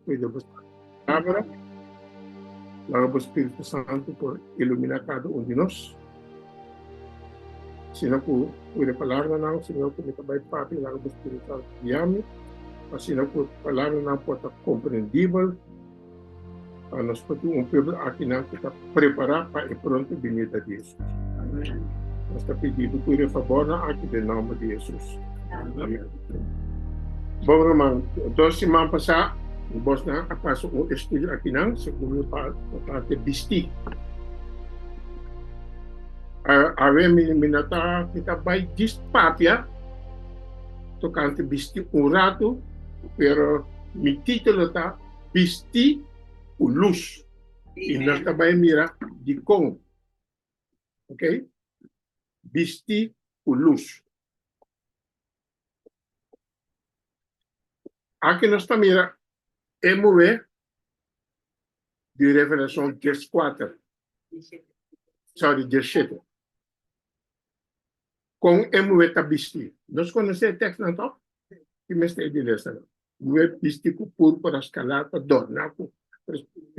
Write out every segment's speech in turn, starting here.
Cuida vos palabra. Laga vos Espíritu Santo por ilumina cada un di nos. Sino cu cuida palabra nan, Señor, cu me ta bay papi, laga vos Espíritu Santo guiami. Asina cu palabra nan por ta comprendibel Pa nos por tin un pueblo akinan ku ta prepará pa e pronto binida di Hesus. Nos ta pidi bo tur e fabornan aki den nòmber di Hesus. Amen. Bon ruman, dos siman pasá bosnan a pasa un estudio akinan segun e parte Bistí. Awe mi mi no ta mi ta bai djis papia tokante Bistí un ratu, pero mi título ta bistí ku lus. I nan ta bai mira dikon, ok, bistí ku lus. Aki nos ta mira e muhé di Revelashon dies kuater, sorry, dies shete. Kon e muhé ta bisti? Nos konosé e tèksnan to? Ki mester e di resta nan? Muhé bisti ku púrpura skalar pa dòrná ku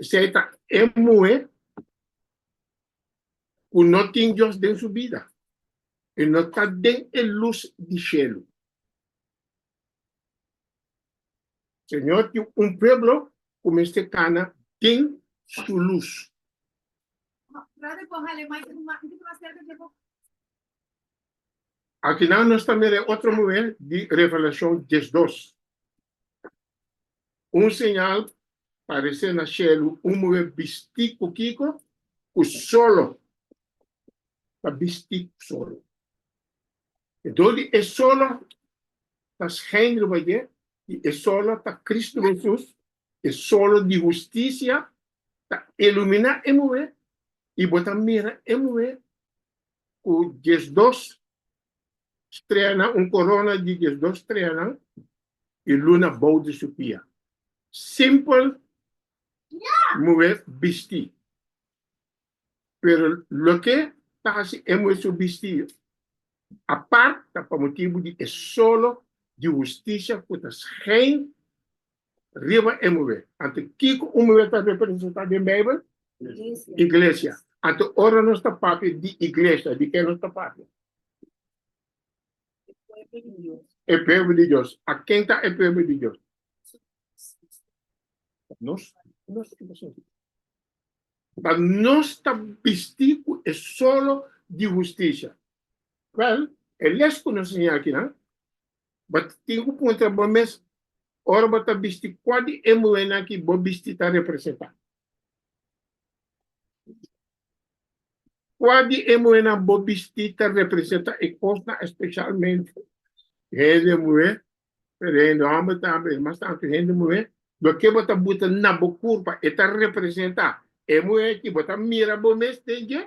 esei ta e muhé ku no tin Dios den su bida i no ta den e lus di shelu. Señor tin un pueblo cu mester cana den su luz. Aki nan nos ta mira e otro muhé di Revelacion diezdos. Un señal parece na cielo un muhé bisti cu kico? Cu solo. Ta bisti cu solo. E do di e sola ta schijnde bayé, i e sola ta Kristu Hesus, e solo di hustisia ta iluminá e muhé, i bo ta mira e muhé ku diesdos streanan, un korona di diesdos streanan, i luna bou di su pia. Simpel muhé bistí. Pero loke ta hasi e muher su bistiyo, apart ta pa motibu di e solo di hustisia ku ta skein riba e muher. Anto kiko un muher ta representá den Beibel? Iglesia. Anto ora nos ta papia di iglesia, di ke nos ta papia? E pueblo di Dios. A ken ta e pueblo di Dios? Nos. But nos ta bisti cu e solo di husticia. Well, e les cu nos siña aki nan, bo tin cu puntra bo mes, ora bo ta bisti cua di e muhernan aki bo bisti ta representa? Cua di e muhernan bo bisti ta representa e cosnan, especialmente hende muher Pero hende homber tambe e mas tantu hende muher, loke bo ta buta na bo kurpa e ta representa e muher ki bo ta mira bo mes den dje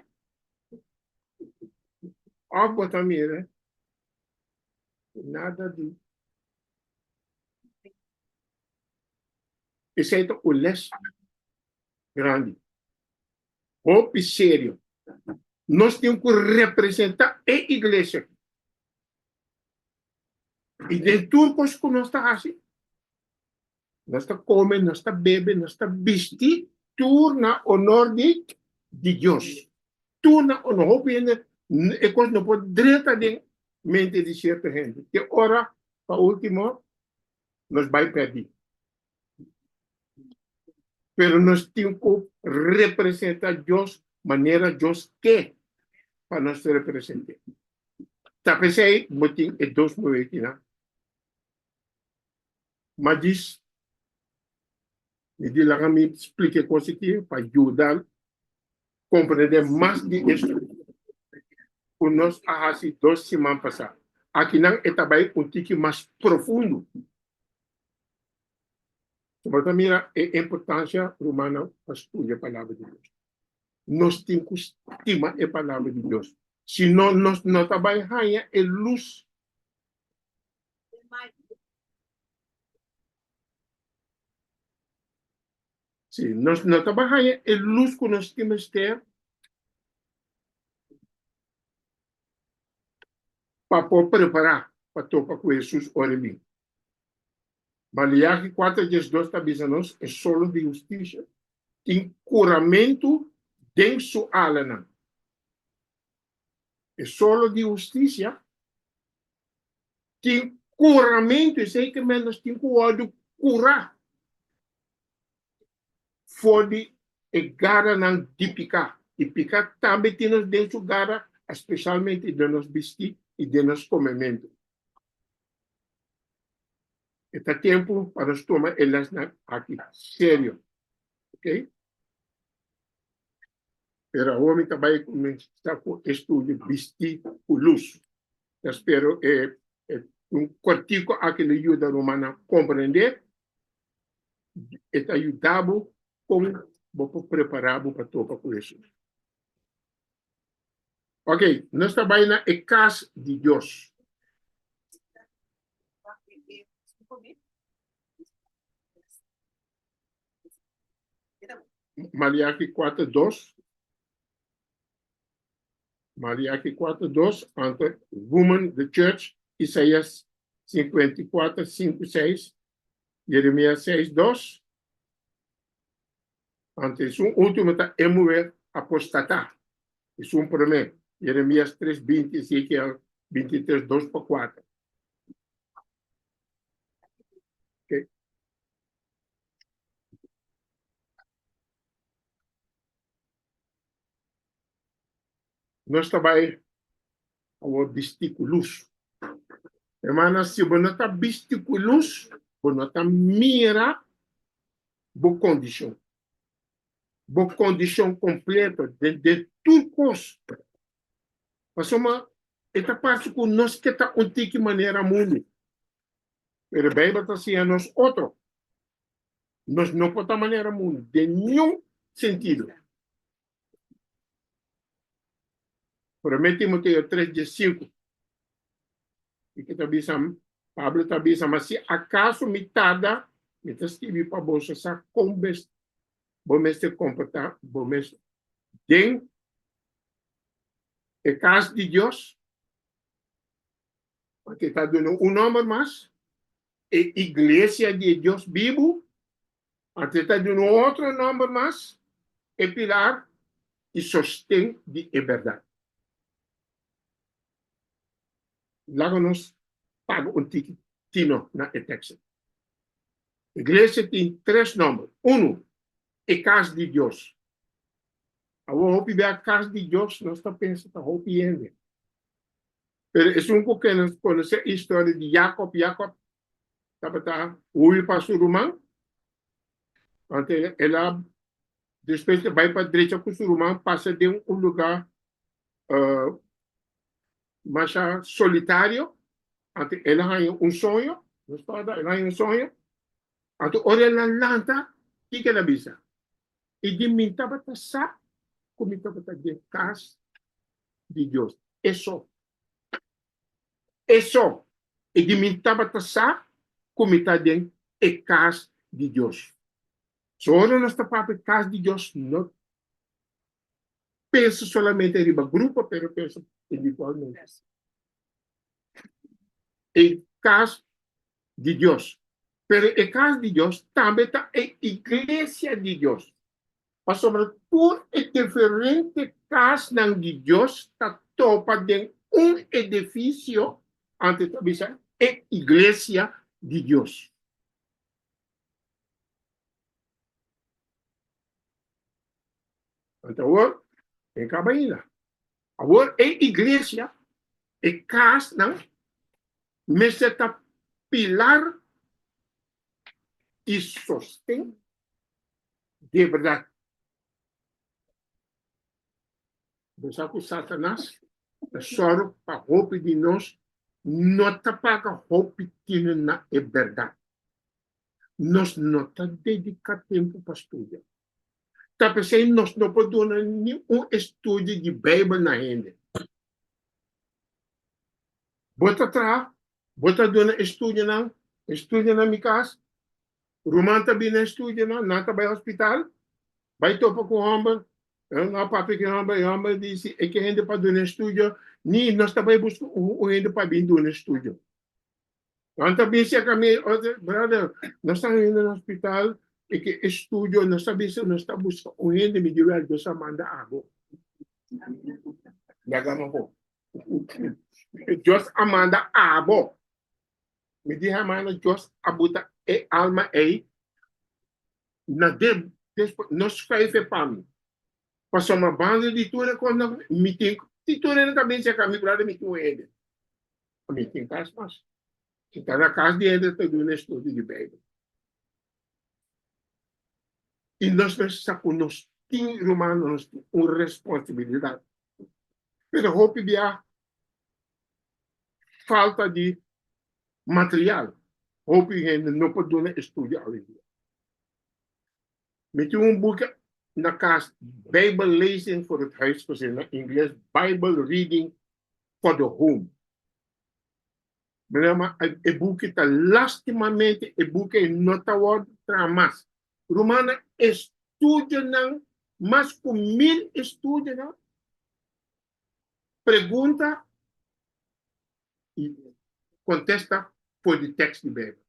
of bo ta mira nada di. Esei ta un les grandi, hopi serio. Nos tin ku representa e iglesia. I den tur kos ku nos ta hasi, nos ta kome, nos ta bebe, nos ta bisti, tur na onor di di Dios. Tur na onor. Hopi hende e kos no por drenta den mente di sierto hende. Te ora pa ultimo nos bai pèrdí. Pero nos tin cu representa Dios manera Dios ke pa nos represente. Ta pesey bo tin e dos mulekinan. Ma djis, mi di laga mi splica e cos aki pa yuda comprende mas di e structura cu nos a haci dos siman pasa. Akinan e ta bay un tiki mas profundo. So bo ta mira e importancia rumannan pa studia Palabra di Dios. Nos tin cu stima e Palabra di Dios, si no nos no ta bay haya e luz. Si nos no ta bay haya e luz cu nos tin mester pa por prepara pa topa cu Jesus ora e bin. Maleachi kuater djes dos ta bisa nos e solos di hustisia tin kuramentu den su alanan. E solos di hustisia tin kuramentu, esei ke men nos tin ku wòrdu kurá for di e garanan di piká. I piká tambe tin nos den su gara, espeshalmente den nos bistí i den nos komementu. E ta tempu pa nos tuma e lèsnan aki serio, ok? Pero awor mi ta bai kuminsá ku e studio bistí ku lus. Ta spero e un kòrtiku aki lo yuda rumannan komprendé i ta yuda bo kon bo por prepará bo pa topa ku Hesus. Ok, nos ta bai na e kas di Dios. Maliaki kuater dos. Maliaki kuater dos, anto woman the church, Isaias sinkuenta i kuater sinku seis, Jeremia seis dos. Anto esun ultimo ta e muher apostatá, esun promé, Jeremias tres binti, Ezekiel bintitres dos pa kuater. Nos ta bai awor bistí ku lus. Hermanan, si bo no ta bistí ku lus, bo no ta mira bo kondishon, bo kondishon kompleto den de tur kos. Pasobra e ta parse ku nos ke ta un tiki manera mundu, pero e Beibel ta siña nos otro. Nos no por ta manera mundu den niun sentido. Promé Timoteo tres die sinku i ke ta bisa, Pablo ta bisa, ma si akaso mi tarda, mi ta skirbi pa boso sa kon bo mester komportá bo mes den e kas di Dios, pasobra ta duna un nòmber mas, e iglesia di e Dios bibu, Anto e ta duna un otro nòmber mas, e pilar i sosten di e bèrdat. Laga nos paga un tiki tino na e tèkstnan. Iglesia tin tres nòmber. Unu, e kas di Dios. Awor hopi bia kas di Dios nos ta pensa ta hopi hende. Pero esun ku kende konosé e historia di Yakòb, Yakòb tabata hui pa su ruman, anto el a despues di bai pa drecha ku su ruman pasa den un luga masha solitario, anto el a haña un soño, no spada, el a haña un soño, anto ora el a lanta kiko el a bisa, i di mi tabata sa ku mi tabata den kas di Dios, eso E so, e di mi tabata sa ku mi ta den e kas di Dios. So ora nos ta papia e kas di Dios, no pensa solamente riba grupo, pero pensa individualmente. E kas di Dios, pero e kas di Dios tambe ta e iglesia di Dios. Pasobra tur e diferente kasnan di Dios ta topa den un edifisio, antes ta bisa e iglesia di Dios. Anto awor e kaba aina. Awor e iglesia, e kasnan, mester ta pilar di sosten de bèrdat. Bo sa ku Satanas ta sòru pa hopi di nos no ta paga hopi tine na e bèrdat. Nos no ta dediká tempu pa studia. Ta p'esei nos no por duna ni un estudio di Beibel na hende. Bo ta traha, bo ta duna e studionan, e studionan mi kas, Ruman ta bini na estudio nan, nan ta bai hospital, bai topa cu homber, nan a papia cu e homber, e homber a dici, e ke hende pa duna estudio, ni nos ta bai busca un hende pa bin duna estudio. Nan ta bin cerca mi, brother, nos ta hende na hospital, e ke estudio, nos ta bisa nos ta busca un hende, mi di wel, Dios a manda abo. Yaga amo bo. Dios a manda abo. Mi di, Hermano Jos, a buta e alma ei na de despues, no schuife pa mi. Pasobra banda di tur e kosnan, mi tin, si tur hende ta binse akà, mi ku laga mi tin un hende. A mi tin kas mas. Mi ta na kas di hende ta duna estudio di Beibel. I nos mes sa ku nos tin, rumannan, nos tin un responsibilidat. Pero hopi biaha, Falta di material hopi hende no por duna estudio awendia. Mi tin un buki na kas Bijbellezing voor het huisgezin, na ingles Bible Reading for the Home. Broer ma e buki ta lastimamente e buki ei no ta wòrdu traha mas. Rumannan estudionan mas ku mil estudionan Pregunta y contesta for di tekst di Bijbel.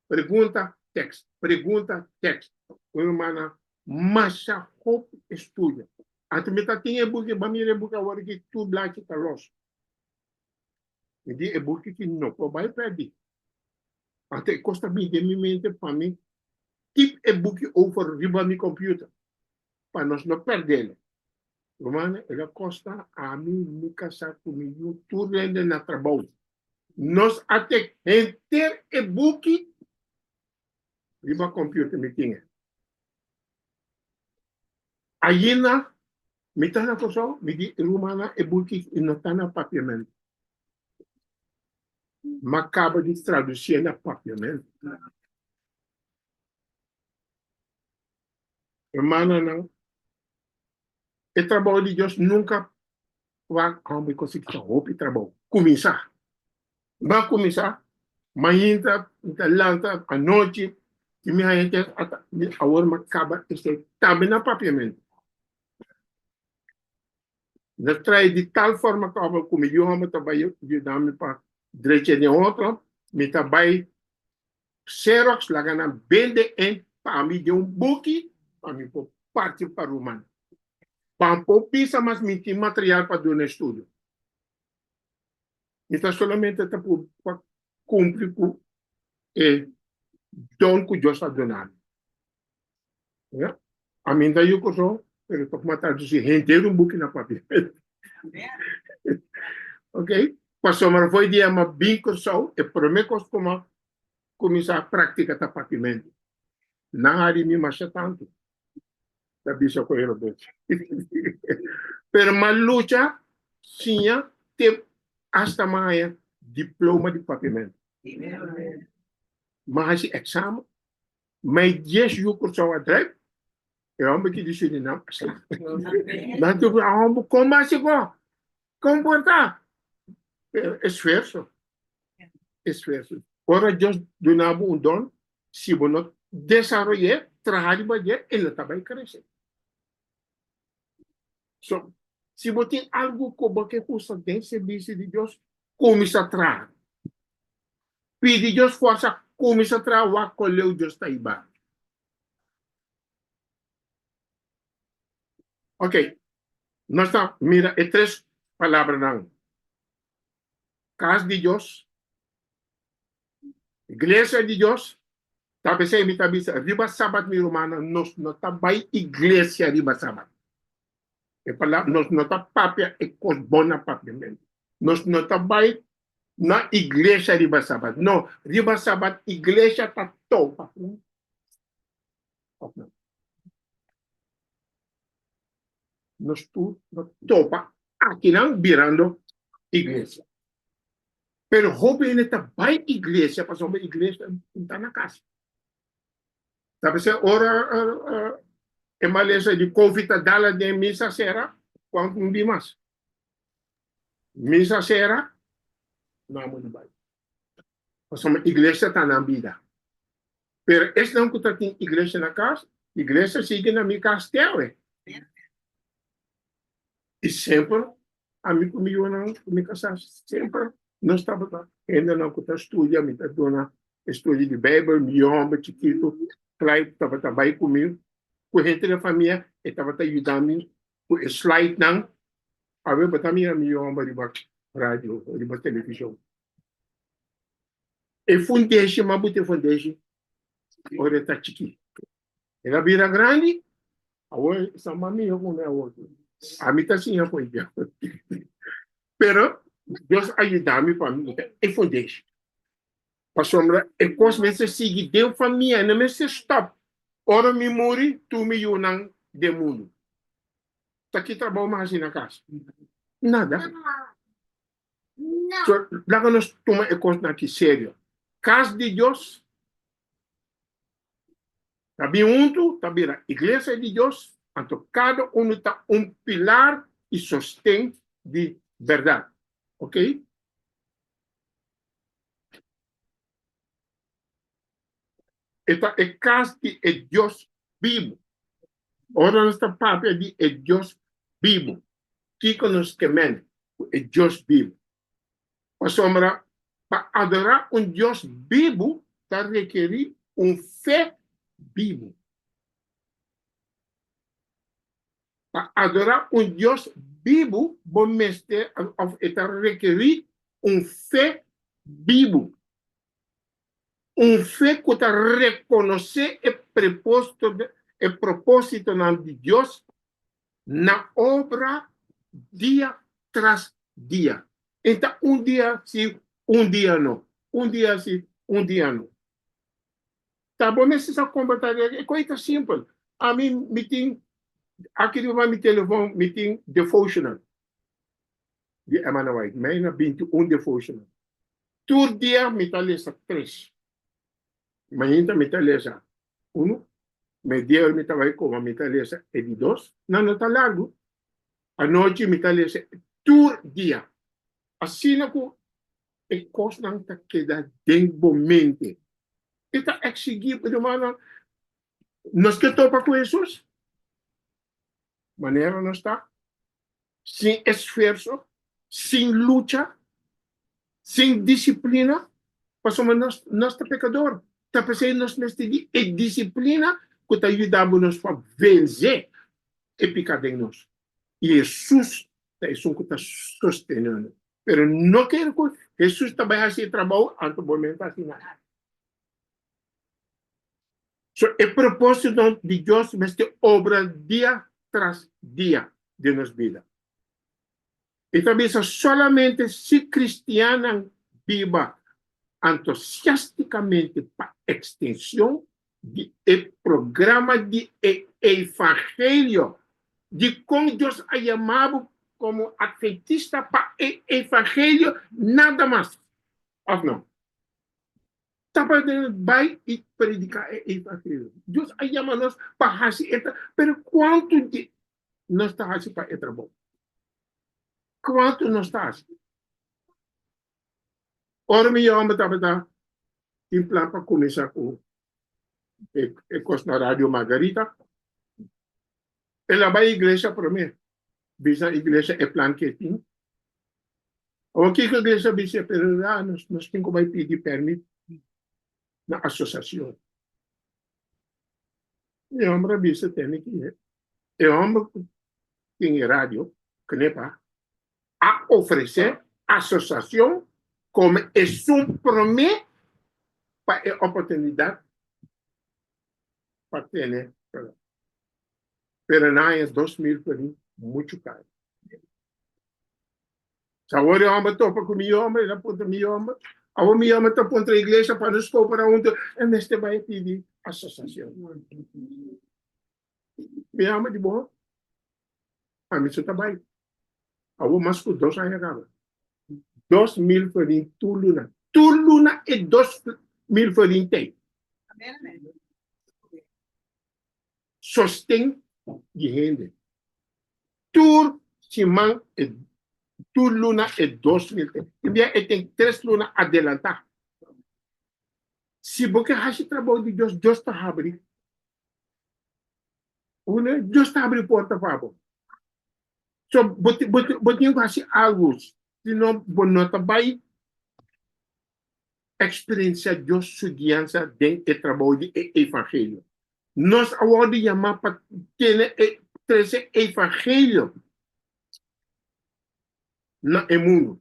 Pregunta, tekst, pregunta, tekst. Un herman na masha hopi estudio. Antes mi ta tin e buki, ba mira e buki awor aki tur blachi ta los. Mi di e buki aki no por bay perdi. Antes e cos ta bini den mi mente pa mi tip e buki over riba mi computer pa nos no perdelo. Ruman, e ta kosta ami mi kasá ku mi yu tur rende na trabou. Nos a tek henter e buki riba kòmpiuter, mi tin e. Ayina mi ta na Kòrsou, mi di e rumannan e buki i no ta na papiamentu. Mi a kaba di tradusié na papiamentu. Hermananan, e trabou di Dios nunka wak a homber kosa ki ta hopi trabou. Kuminsá, n'ta kuminsá mainta, n'ta lanta anochi, i mi haña ke ata di awor mi a kaba esei tambe na papiamentu. N'ta traha di tal forma ku abo ku mi yu homber ta bai yuda mi pa drecha den otro, mi ta bai Xerox laga nan bende en pa ami den un buki pa mi por parki pa ruman. Ban por bisa mas mi tin material pa duna estudio. Mi ta solamente ta puru pa kumpli ku e don ku Dios a duna mi. Amin ta yu koso, pero tok mata dusi henter un buki na papia. ok, Pastor Marafoy di ama bin Kòrsou, e promé kos ku ama kuminsá praktika ta papimentu. Nan a rimi masha tantu, ta bisa ku e robotchi. pero m'a lucha siña te asta m'a haña diploma di papimentu. M'a hasi eksamen, Mai dies yu Curaçao a drijf, e homber ki di Surinam a sla. Nan tur a homber con mas e con? Con por ta? Esfuerzo, esfuerzo. Ora Dios duna bo un don, si bo no desaroye, traha riba di e, e no ta bay crece. So, si bo tin algu ku bo ke usa den sirbishi di Dios, kuminsá traha. Pidi Dios fòrsa, kuminsá traha, wak kua leu Dios ta hiba. Ok, nos ta mira e tres palabranan, kas di Dios, Iglesia di Dios ta besey mi ta bisa riba Sabat mi rumannan nos no ta bai iglesia riba Sabat e palabra nos no ta papia e kos bon na papia men nos no ta bai na iglesia riba Sabat no riba Sabat iglesia ta tou pa kun of no nos tur no tou pa akinan birando iglesia. Pero hopi hende ta bai iglesia pasobra iglesia no ta na casa. Ta mester ora e malesa di covid ta dala den misa sera cu amo tin dimas. Misa sera no amo na bai pasobra iglesia ta nan bida. Pero esnan cu ta tin iglesia na casa, iglesia sigui na mi casa te awe. I semper ami ku mi yunan ku mi kasá semper nos tabata hendenan ku ta studia, mi ta duna estudio di Beibel, mi yomber chikitu Clyde tabata bai ku mi ku henter den famia e tabata yuda mi ku e slaidnan pa mi tabata mira mi yomber riba radio o riba televishon. E fundeshi mabú te fundeshi ora e ta chikí. El a bira grandi, awor e sa mas miho ku mi awor. Ami ta siña for ya. Pero Dios a yuda mi pa mi yega e for dish. Pasobra e kos mester sigui den famia, e no mester stòp ora mi muri, tur mi yunan den mundu. Ta ki trabou mi hasi na kas? Nada. So, laga nos tuma e kosnan aki serio. Kas di Dios ta bin huntu, ta bira iglesia di Dios, anto kada unu ta un pilar i sosten di bèrdat. Oke? E ta e kas di e Dios bibu. Ora nos ta papia di e Dios bibu, kiko nos ke mende ku e Dios bibu? Pasobra pa adorá un Dios bibu ta rekerí un fe bibu. Pa adorá un Dios bibu bo mester òf e ta rekerí un fe bibu, un fe ku ta rekonosé e prepósito, e propósitonan di Dios Na obra dia tras dia. E ta un dia si, un dia no, un dia si, un dia no. Ta bo mester sa con bo ta hacer. E cosita simpel. Ami mi tin aki riba mi telefon mi tin devotional di Emana White. Mi a yina binti un devotional. Tur dia mi ta lesa tres. Mainta mi ta lesa unu, mediawe mi ta bai koma mi ta lesa e di dos, nan no ta largu. Anochi mi ta lesa e tur dia, asina ku e kosnan ta keda den bo mente. E ta eksigí bo rumannan, Nos ke topa ku Hesus? Manera nos ta? sin esfuerso, sin lucha, sin disiplina, pasobra nos nos ta pekador. Ta p'esei nos mester di e disiplina ku ta yuda bo nos pa vensé e piká den nos. I Hesus ta esun ku ta sostené no. Pero no kere ku Hesus ta bai hasi e trabou anto bo mester hasi nada. So e propósitonan di Dios mester obra dia tras dia den nos bida. I ta bisa solamente si kristiannan biba antosiástikamente pa ekstenshon di e programa di e eivangelio dikon Dios a yama bo komo adventista pa e eivangelio nada mas, òf nò? Ta pa den e bai i prediká e evangeliu. Dios a yama nos pa hasi e. Pero kuantu di nos ta hasi pa e trabou? Kuantu nos ta hasi? Ora mi yòmen tabata tin plan pa kuminsá ku e kos na Radio Margarita, El a bai iglesia promé, bisa iglesia e plan ke e tin. Awa kiko iglesia a bis'é? Pero ya nos nos tin ku bai pidi pèrmit na asosiashon. E hòmber a bisa tende ku e hòmber ku tin e radio, Knippa, a ofresé asosiashon kome esun promé pa e oportunidat pa tene kalor. Pero na aña dos mil por ahi muchu kaya. Sa awor e homber a topa ku mi yoma, el a puntra mi yoma, awor mi yoma ta puntra iglesia pa nos koopera huntu, e mester bai a pidi asosiashon. Mi yoma di bo, pa mi su ta bai. Awor mas ku dos aña kaba. Dos mil flarin tur luna. Tur luna e dos mil flarin t'ei. Sosten di hende. Tur siman e tur luna e dos mil t'ei. E bia e ten tres luna adelantá. Si bo ke hashi trabou di Dios, Dios ta habri. Una, Dios ta abri porta pa bo. So, bo, bo, bo tin ku hasi algu, si no bo no ta bai eksperensiá Dios su guiansa den e trabou di e evangelio. Nos a wòrdu yamá pa tene e trese evangelio na e mundu.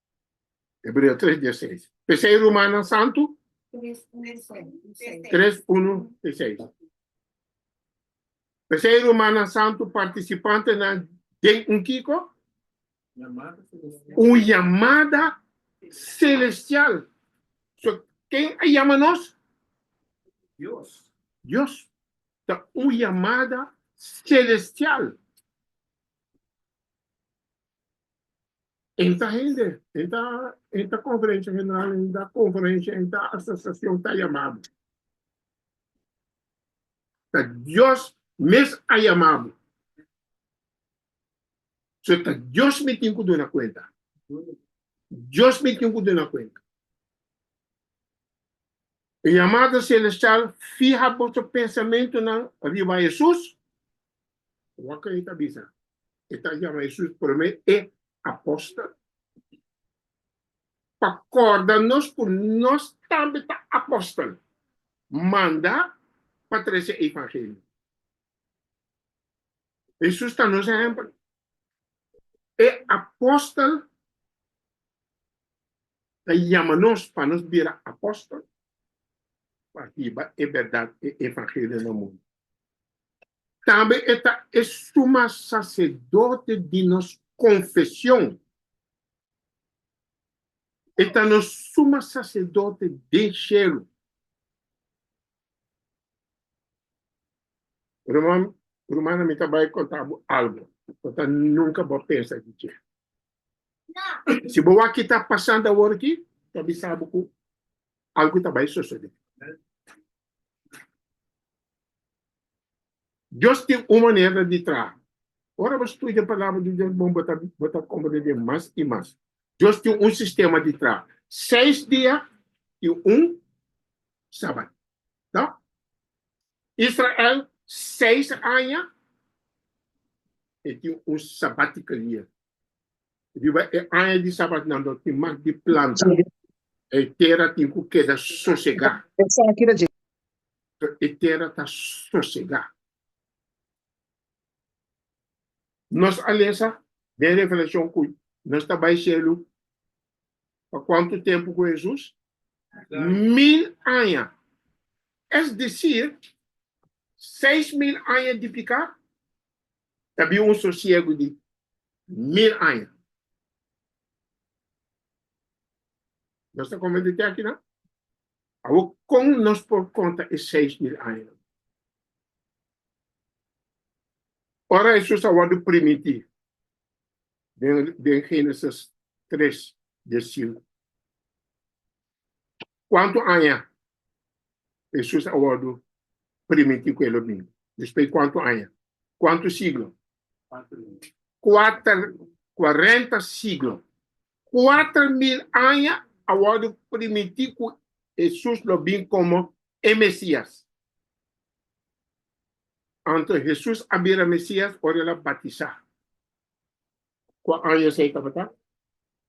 Hebreo tres di e seis. P'esei, rumannan santu, tres unu di e seis, p'esei rumannan santu partisipantenan den un kiko? un yamada selestial. So, ken a yama nos? Dios. Ta un yamada selestial. E ta hende, e ta e ta konferensia general, e ta konferensia, e ta asosiashon ta yamabu. Ta Dios mes a yamabu. So ta Dios mi tin ku duna kuenta. Dios mi tin ku duna kuenta. E yamada selestial fiha boso pensamentunan riba Hesus. Waka e ta bisa. E ta yama Hesus promé e apòstel pa kòrda nos ku nos tambe ta apòstel manda pa trese e evangelio. Hesus ta nos ehèmpel. E apòstel ta yama nos pa nos bira apòstel pa hiba e bèrdat, e evangelio na mundu. Tambe e ta e suma saserdote di nos konfesion. E ta nos suma saserdote den shelu. Ruman, rumana, mi ta bai konta bo algu, bo ta nunka bo a pensa di dje. Si bo wak ki ta pasando awor aki, ta bisa bo ku algu ta bai sosodé. Dios tin un manera di traha. Ora bo studia Palabra di Dios bon bo ta bo ta komprendé mas i mas. Dios tin un sistema di traha. Seis dia i un Sabat. Ta? Israel seis aña e tin un Sabbatical year. Riba e aña di sabatnan lo tin mas di planta, e tera tin ku keda sosegá. E tera ta sosegá. Nos a lesa den Revelashon ku nos ta bai shelu pa kuantu tempu ku Hesus? Mil aña, es desir, seis mil aña di piká ta bin un sosiegu di mil aña. Nos ta komenta te aki nan? Awor, kon nos por konta e seis mil aña nan? Ora Hesus a wòrdu primintí den Génesis tres di e sinku, Kuantu aña Hesus a wòrdu primintí ku e lo bini? Despui kuantu aña? Kuantu siglo? Kuater, kuarenta siglo. Kuater mil aña a wòrdu primintí ku Hesus lo bin komo e Mesías. Anto Hesus a bira Mesías ora el a batisá. Kua años ei tabata?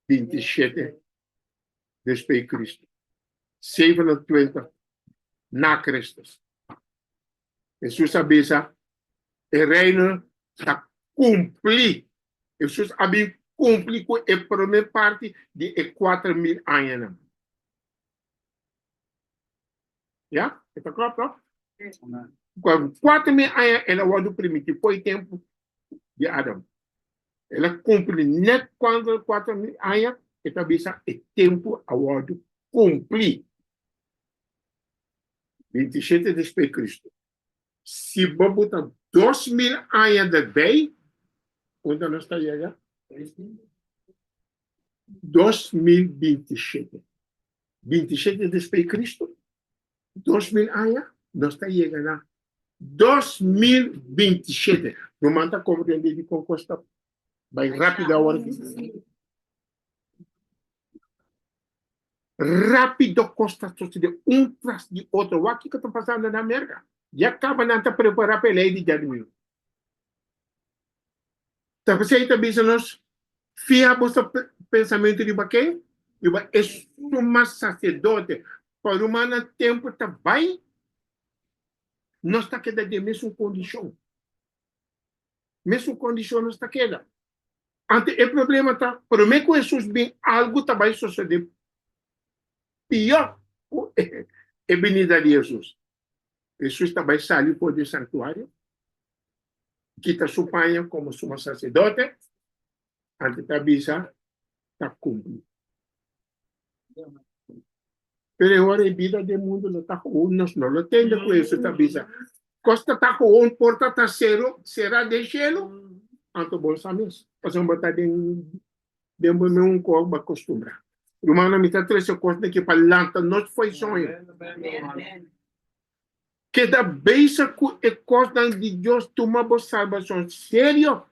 Binti shete despe i Kristu. Sevenentwintig na Kristus. Hesus a bisa, E Reino ta kumpli. Hesus a bin kumpli ku e promé parti di e kuater mil añanan. Ya? E ta klò, to? Kuater mil aña el a wòrdu primitivo, por e tempu di Adam. El a kumpli nèt kuantu e kuater mil aña, e ta bisa, E tempu a wòrdu kumpli. Binti shete despues di Kristu. Siba bo ta dos mil aña derbei, unda nos ta yega? Dos mil binti shete. Binti shete despues di Kristu, Dos mil aña nos ta yega na dos mil binti shete. Ruman ta komprendé dikon kos ta bai rápido awor aki? Rápido kos ta sosodé un tras di otro. Wak kiko ta pasando na Merka. Ya kaba nan ta prepará pa e lei di Djadimir. Ta pasey ta bisa nos, Fia boso pensamentu riba ken? Riba e suma saserdote. Pa ruma nan tempu ta bai, nos ta keda den mesun kondishon. Mesun kondishon nos ta keda. Anto e problema ta, promé ku Hesus bin, algu ta bai sosodé pió ku e binida di Hesus. Hesus ta bai sali for di e sanktuario, kita su paña komo Sumo Saserdote, anto ta bisa, Ta kumpli. Pero e ora e bida den mundu lo ta koon, nos no lo tende ku Hesus ta bisa, Kos ta ta koon, porta ta sero, sera den shelu, anto bon sa mes, pasobra bo ta den Den bo me un kos bo a kostumbrá. Rumannan, mi ta trese kos na ke pa lanta nos fo'i soño. Keda bisa ku e kosnan di Dios tuma bo salbason serio.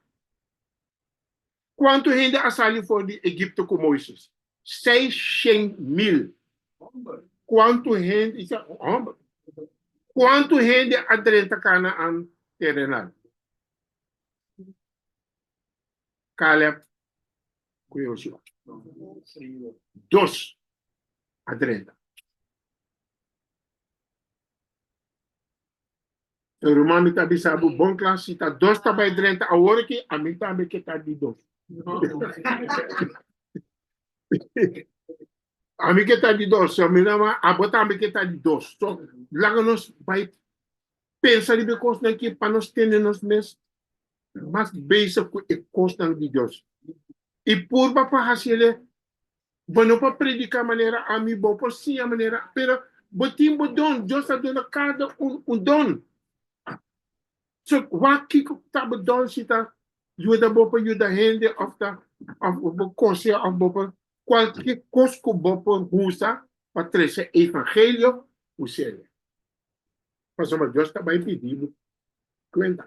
Kuantu hende a sali for di Egipto ku Moises? Seis shen mil. Kuantu hende, homber. Kuantu hende a drenta Kanaan terenal? Caleb cu Joshua. Dos a drenta. So ruman mi ta bisa bo bon klas si ta dos ta bay drenta awor aki a mi tambe ke ta di dos. a mi ke ta di dos so mi na abo tambe ke ta di dos so laga nos bay Pensa riba e kosnan ke pa nos tende nos mes mas bezig ku e kosnan di Dios, i purba pa hasi el e. Bo no por prediká manera ami, bo por siña manera, pero bo tin bo don, Dios a duna kada un un don. So, wak kiko ku ta bo don, si ta yuda bo pa yuda hende òf ta òf bo kose òf bo por kualke kos ku bo por usa pa trese evangelio, usa el. Pasobra Dios ta bai pidi bo cuenta.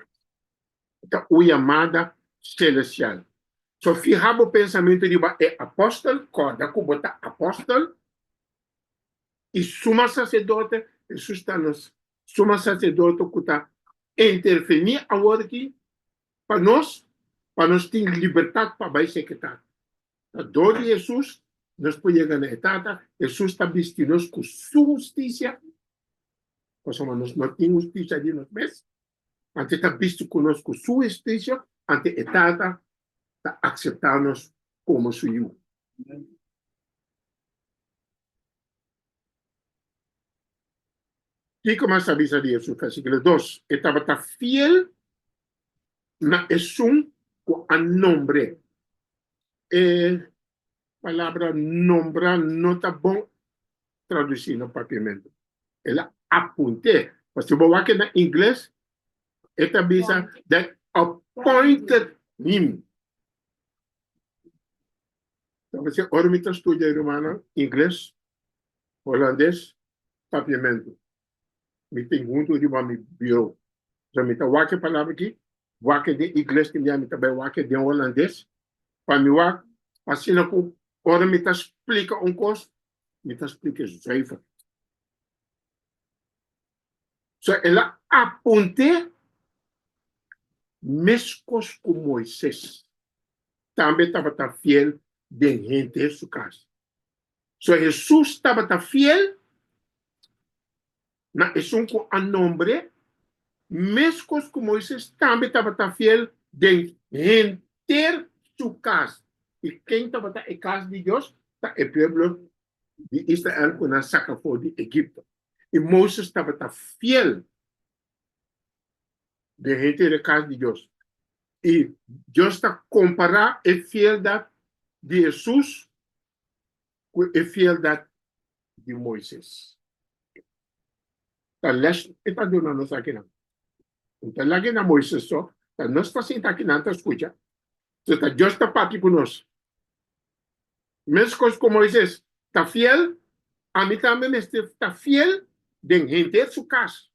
Ta un yamada celestial. So fiha bo pensamento riba e apostel, corda cu bo ta apostel, y suma sacerdote, Jesus ta nos suma sacerdote cu ta interveni awor aki pa nos, pa nos tin libertad pa bai seketar. Na dor di Hesus nos por yega na e Tata. Hesus ta bisti nos ku su hustisia, pasobra nos no tin hustisia di nos mes, anto e ta bisti ku nos ku su hustisia, anto e Tata ta akseptá nos komo su yu. Kiko mas ta bisa di Hesus? Versiklo dos, E tabata fiel Na esun ku a nombr'é. E palabra nombrá no ta bon tradusí na papiamentu. El a apunt'é. Mas si bo wak na ingles, e ta bisa, That appointed him. Ta p'esei ora mi ta studia, rumannan, ingles, holandes, papiamentu, mi tin huntu riba mi biro. So mi ta wak e palabra aki, wak e den igles di mi, a mi ta bai wak e den Holandes, pa mi wak, asina ku ora mi ta splika un kos, mi ta splika e zùiver. So el a apunt'é meskos ku Moises, tambe tabata fiel den hente su kas. So Hesus tabata fiel na esun ku a nombr'é, meskos ku Moises tambe tabata fiel den henter su kas. I ken tabata e kas di Dios? Ta e pueblo di Israel ku nan saka for di Egipto. I Moises tabata fiel den henter e kas di Dios. I Dios ta kompará e fieldat di Hesus ku e fieldat di Moises. Ta lèsh e ta duna nos akinan. Un ta laga e na Moises so, ta nos ta sinta akinan ta skucha, so ta Dios ta papia ku nos. Meskos ku Moises ta fiel, ami tambe mester ta fiel den henter su kas.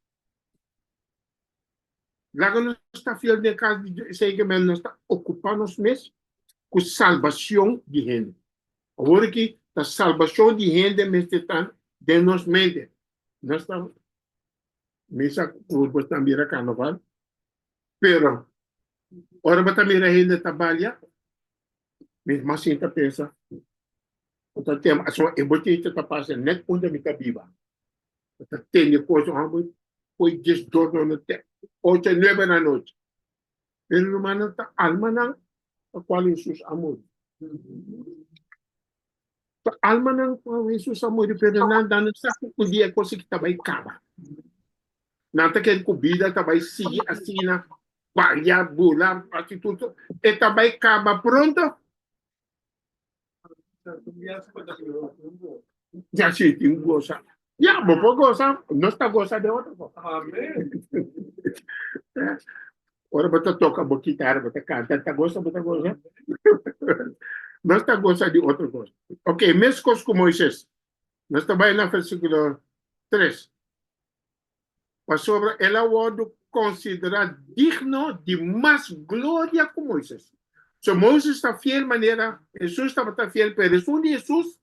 Laga nos ta fiel den kas di Dios, esei ke men nos ta okupá nos mes ku salbashon di hende. Awor aki ta salbashon di hende mester ta den nos mente. No esnan mi sa ku bo ta mira karnaval, pero ora bo ta mira hende ta balia mi mas sin ta pensa bo ta temp aso e bochei ta pasa nèt unda mi ta biba. Bo ta tende kosa ora bo poi dies dormi na tè ocho a nuebe na anochi. Pero rumannan ta almanan pa cual Hesus a muri. Ta almanan pa cual Hesus a muri pero nan ta no sa cu dia e cos aki ta bay caba. Nan ta kere cu bida ta bay sigui asina, baria, bula, haci tur tur. E ta bay caba pronto. Ya si tin gosa. Ya, bo por gosa, nos ta gosa den otro cosa. Amen. Ora bo ta toka bo kitar, bo ta kanta, ta gosa bo ta gosa? Nos ta gosa di otro cosa. Ok, meskos ku Moises. Nos ta bai na versikulo tres. pasobra el a wòrdu konsiderá digno di mas gloria ku Moises. So Moises ta fiel manera Hesus tabata fiel, pero esun di Hesus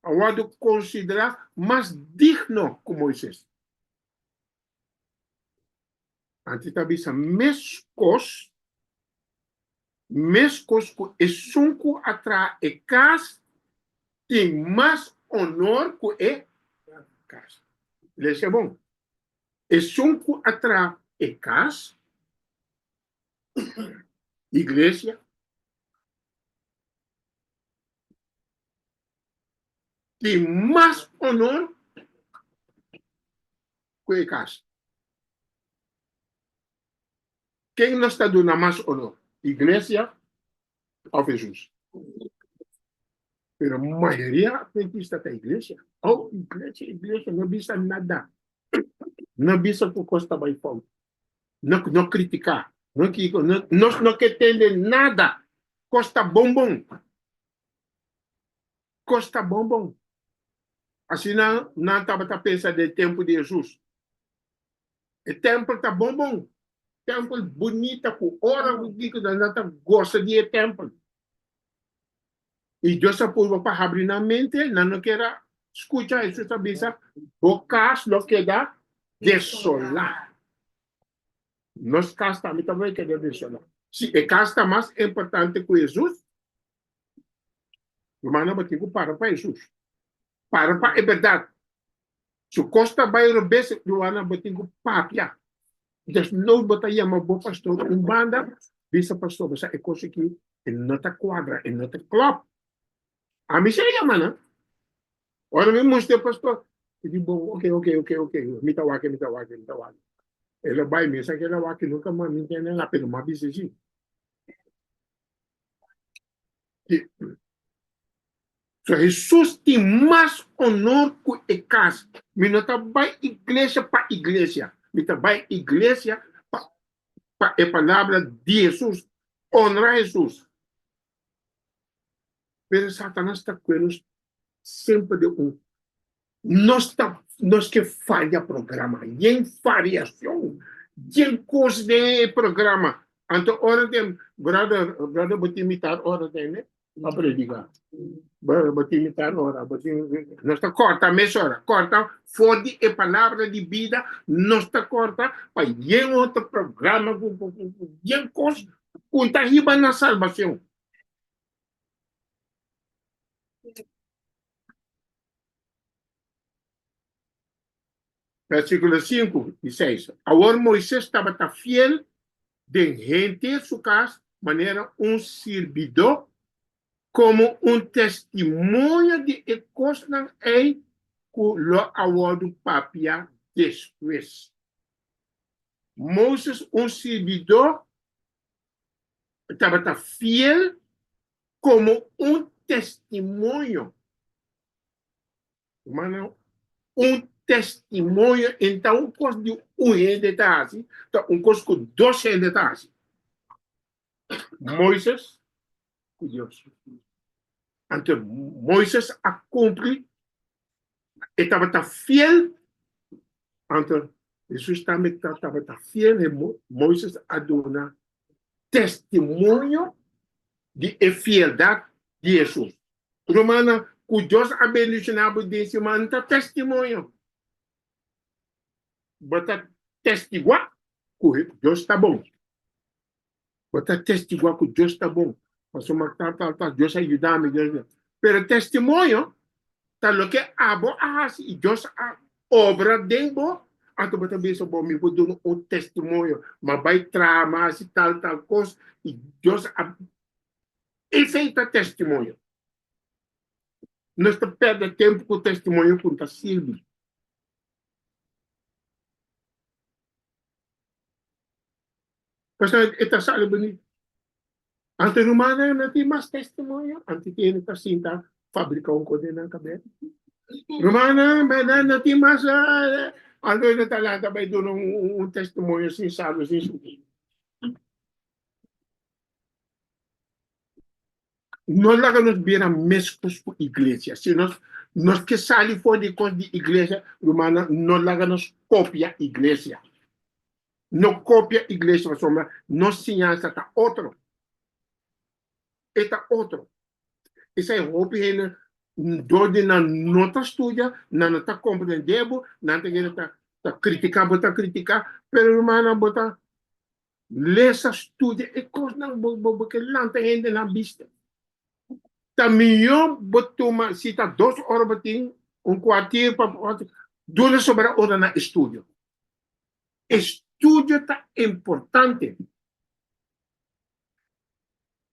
a wòrdu konsiderá mas digno ku Moises. Antes ta bisa mes kos, mes kos ku esun ku a traha e kas tin mas onor ku e kas. Lees'e bon, Esun ku a traha e kas, iglesia, tin mas onor. ku e kas. Ken nos ta duna mas onor, iglesia òf Hesus? Pero mayoria adventista ta iglesia. Oh, iglesia, iglesia no bisa nada. No bisa ku kos ta bai fout. No no kritiká. No kiko. No nos no ke tende nada. Kos ta bon bon. kos ta bon bon. Asina nan tabata pensa den tempu di Hesus. E tèmpel ta bon bon, tèmpel bunita ku ora ku kikosa nan ta gosa di e tèmpel. I Dios a purba pa habri nan mente, nan no kier a skucha Hesus a bisa, Bo kas lo keda desolá. Nos kas tambe tabata keda desolá. Sí, e kas ta mas importante ku Hesus, Rumannan bo tin ku para pa Hesus. Para pa e bèrdat. Su kos ta bai robes Rumannan bo tin ku papia. Desnoud bo ta yama bo pastor un banda bisa pastor bo sa e kos aki e no ta kuadra e no ta klòp. Ami sa yama nan. Ora mi musti e pastor mi di bon oke oke oke oke mi ta wak mi ta wak mi ta wak. Ela bai mesa keda wak nunka mas mi tene lape no mas bisa si. So Hesus tin mas onor ku e kas. Mi no ta bai iglesia pa iglesia, mi ta bai iglesia pa pa e palabra di Hesus, onra Hesus. Pero Satanas ta kue nos semper den un Nos ta nos ke faria programa yen fariashon yen kos den e programa anto ora den brother brother bo tin mitar ora den e pa prediga brother bo tin mitar ora bo tin nos ta korta mes ora korta for di e palabra di bida nos ta korta pa yen otro programa ku ku ku yen kos ku ta hiba na salbashon. Versíkulo sinku i seis, Awor Moises tabata fiel den henter su kas manera un sirbidó, komo un testimoño di e kosnan ei ku lo a wòrdu papia despues. Moises un sirbidó tabata fiel komo un testimonio, mana un testimonio e ta un kos di un hende ta hasi, ta un kos ku dos hende ta hasi, Moises ku Dios. Anto Moises a kumpli E tabata fiel anto Jesus tambe tabata fiel he Moises a duna testimonio di e fieldad di Jesus. Rumannan cu Dios a bendiciona bo den si man ta testimonio bo ta testigua cu Dios ta bon. Bo ta testiguá ku Dios ta bon, pasobra tal, tal, tal, Dios a yuda mi, Dios a yuda mi. Pero testimonio ta loke abo a hasi i Dios a obra den bo. Anto bo ta bisa, Bo, mi por duna un testimonio, m'a bai traha, m'a hasi tal, tal kos, i Dios a. Esei ta testimonio. Nos ta pèrdè tempu ku testimonio ku no ta sirbi. Pasá e ta sali bini. Anto e rumannan no tin mas testimonio, anto tin e ta sinta fabriká un kos den nan kabes. Rumannan, bèrdad, no tin mas algu e no ta lanta bai duna un testimonio sin sabe, sin sugir. No laga nos bira meskos ku iglesia. Si nos nos ke sali for di kos di iglesia, rumannan, no laga nos kopia iglesia. No kopia iglesia pasobra nos siñansa ta otro. E ta otro. Esei hopi hende dor di nan no ta studia, nan no ta komprendé bo, nan ta kere ta kritiká bo ta kritiká. Pero rumannan bo ta lesa, studia e kosnan, bo ke lanta hende na bista. Ta mihó bo tuma, si ta dos ora bo tin, un kuartir pa, duna soba ora na estudio. E studio ta importante.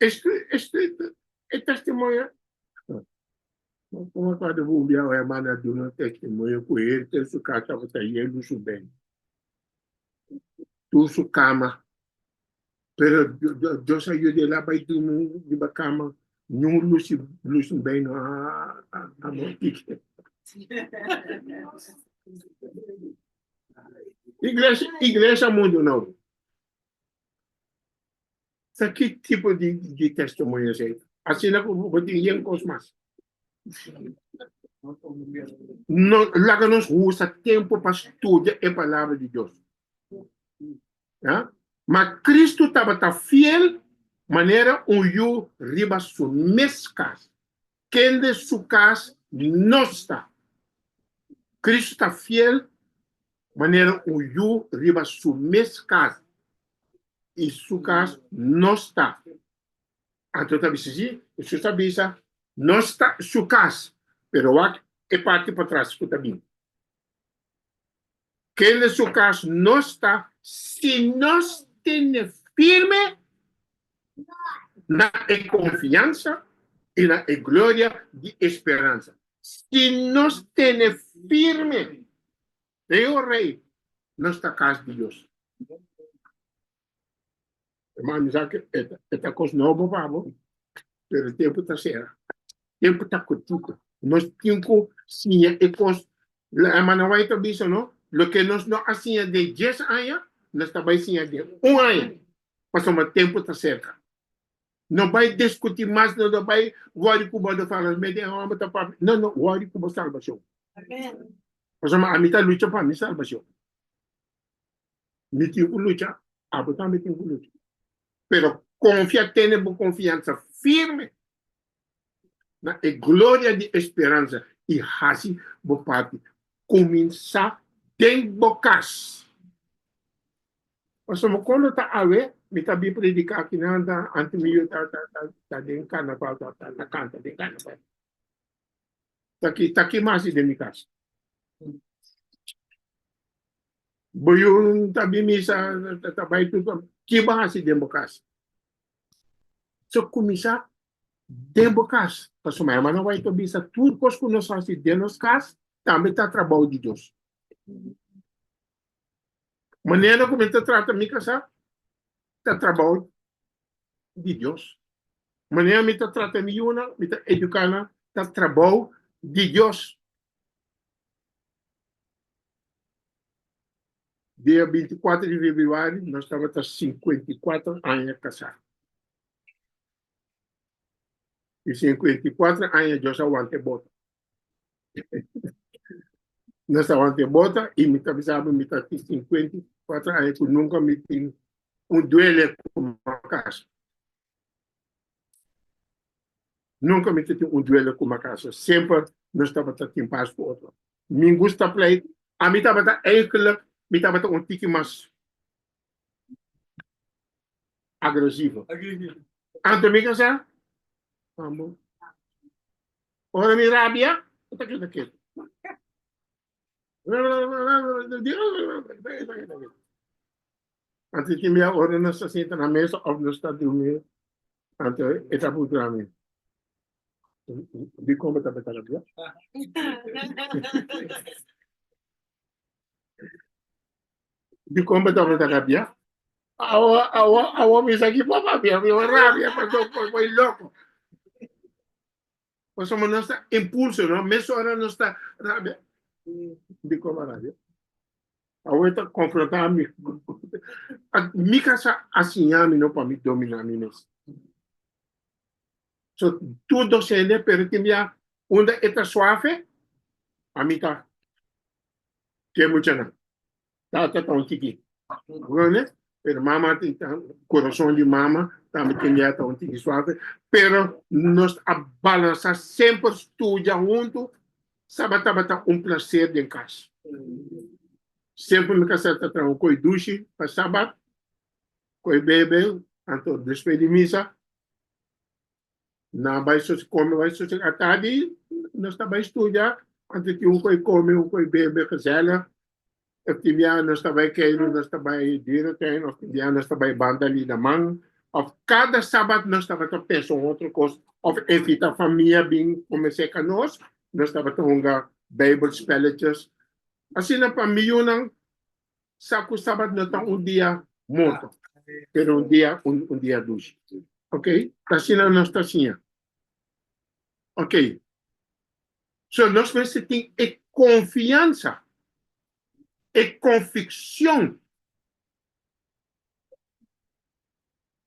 E studio, e testimonio. Kuma ku un bia un hermano a duna un testimonio ku henter su kas tabata yendo suben tur su kama, pero Dios a yuda el a bai durmi riba kama niun lusi lusi bel no a morti. Iglesia iglesia mundu no sa ki tipo di di testimonio esei asina ku bo tin yen kos mas no laga nos usa tempu pa studia e palabra di Dios ya ma Kristu tabata fiel manera un yu riba su mes kas Kende su kas no sta. Kristu ta fiel manera un yu riba su mes kas, i su kas no sta. Anto ta bisa si? Hesus a bisa, No sta su kas, pero wak e parti patras ku ta bin. Kel den su cas no sta si nos tene firme na e confiansa y na e gloria di e speransa. Si nos tene firme, Rey o Rey, nos ta cas di Dios. Hermano, mi sa ke e, e ta kos nobo pa bo, pero e tempu ta sera. Tempu ta kutiko. Nos tin ku siña e kos. Hermana White a bisa no, loke nos no a siña den dies aña, nos ta bai siña den un aña, pasobra tempu ta serka. No bai diskutí mas, no ta bai wòri ku bo, no fala mas, mete e hòmber ta papia. No, no wòri ku bo salbashon. Pasobra ami ta lucha pa mi salbashon. Mi tin cu lucha, abo tambe tin cu lucha. Pero confia, tene bo confiansa firme na e gloria di esperansa y haci bo parti. Cuminsa den bo cas. Pasobra mi con lo ta awe, mi ta bin predica aki na Anta, antes mi yu ta den carnaval, ta canta den carnaval. Taki, taki mas di den mi kas. Bo yun ta bin misa, ta bai tur pa mi. Ki bo a hasi den bo kas? So kuminsá den bo kas. Pasobra mi a manda bo pa bisa tur kos ku nos hasi den nos kas tambe ta trabou di Dios. Manera ku mi ta trata mi kasá ta trabou di Dios. Manera mi ta trata mi yunan, mi ta eduká nan, ta trabou di Dios. Dia binti kuater di februari nos tabata sinkuenta i kuater aña kasá. I sinkuenta i kuater aña Dios a wanta e boto. Nos ta wante bota y mi ta bisa bo mi ta tin 54 aña cu nunca mi tin un duele como acaso. Nunca mi ta tin un duele como acaso. Semper nos tabata tin pas cu otro. Mi gusta pleito. A mi tabata eigenlijk mi tabata un tiki mas agresivo. Anto mi casa, amo. Ora mi rabia, e ta keda ketu. Anto tin bia ora nos ta sinta na mesa of nos ta durmi, anto e ta por drami. Di con bo ta beta rabia? Di con bo tabata rabia? Awa, awa, awa mi sa ki papa mia, mi wan rabia, paso por boy loco. Paso mo nos ta impulso, no? Mes ora nos ta rabia. Di con bo rabia? Awa e ta confronta mi. Mi casa a siña mi no pa mi domina mi mes. So, tur docente, pero tin bia unda e ta suafe, a mi ta. Ke muchanan tata ta un tiki grone pero mama tin ta corazon di mama tambe tin dia ta un tiki suave pero nos a balansa semper studia hunto saba tabata un placer den cas semper mi kasa ta traha un koi dushi pa sabat koi bebe anto despues di misa Nan bai sosi come, bai sosi a tardi nos ta bai studia antes di un koe come un koe bebe gezellig e tin bia nos ta bai keiru nos ta bai dierentuin of tin bia nos ta bai banda Lidaman of cada sabat nos tabata pensa un otro cos of invita famia bin comens'e ca nos, nos tabata hunga bijbel spelletjes asina pa mi yunan sa ku Sabat no ta un dia morto, pero un dia un dia dushi. Ok, ta asina nos ta siña. Ok, so nos mester tin e konfiansa, e konfikshon